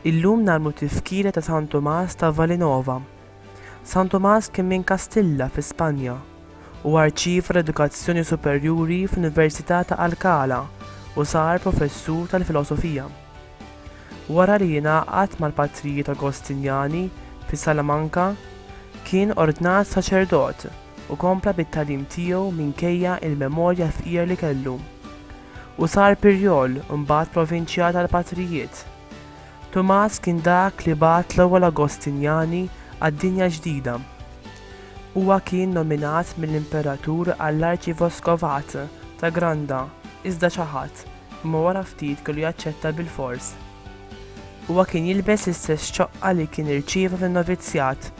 Illum narmu tifkira ta' San Tomas ta' Valinova. San Tomas kien minn Kastilla fi Spanja u arċiv l-edukazzjoni superjuri fl-Università ta' Alcala u sar professur tal-filosofija. Wara li ingħaqad mal-Patrijiet Agostinjani fi Salamanca, kien ordnat saċerdot u kompla bit-tagħlim tiegħu minkejja l-memorja fqira li kellu, u sar Pirjol u mbagħad Provinċjal tal-Patrijiet. Tumas kien dak li bagħat l-ewwel Agostinjani għad-dinja ġdida. Huwa kien nominat mill-Imperatur għall-Arċivoscovat ta' Granda, iżda ċaħad. Imma wara ftit kellu jaċċetta bilfors. Huwa kien jilbes l-istess ċoqqa li kien irċieva fin-novizzjat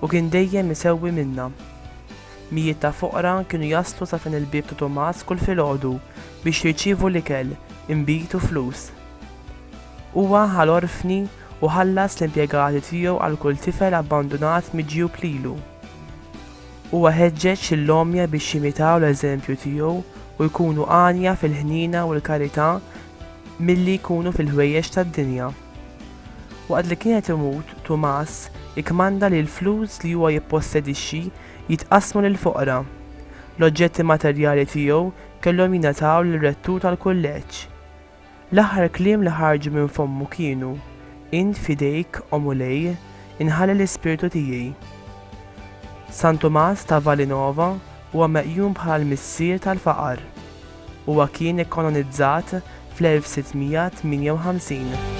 u kien dejjem isewwi minnha. Mijiet ta' foqra kienu jaslu sa fejn il-bieb ta' Tumas kull filgħodu biex jirċievu l-ikel, inbid u flus. Huwa ħa l-orfni u ħallas l-impjegati tiegħu għal kull tifel abbandunat miġjub lilu. Huwa ħeġġeġ lill-għomja biex jimitaw l-eżempju tiegħu u jkunu għanja fil-ħniena u l-karità milli jkunu fil-ħwejjeġ tad-dinja. Waqt li kien qed imut, Tumas ikkmanda li l-flus li huwa jippossedixxi jitqassmu lill-foqra. L-oġġetti materjali tiegħu kellhom jingħataw lir-rettur tal-kulleġġ. L-aħħar kliem li ħarġu minn fommu kienu, Int f'idejk, O Mulej, inħalli l-ispirtu tiegħi. San Tumas ta' Valinova huwa meqjum bħal missier tal-faqar. Huwa kien ikkanonizzat fl-1658.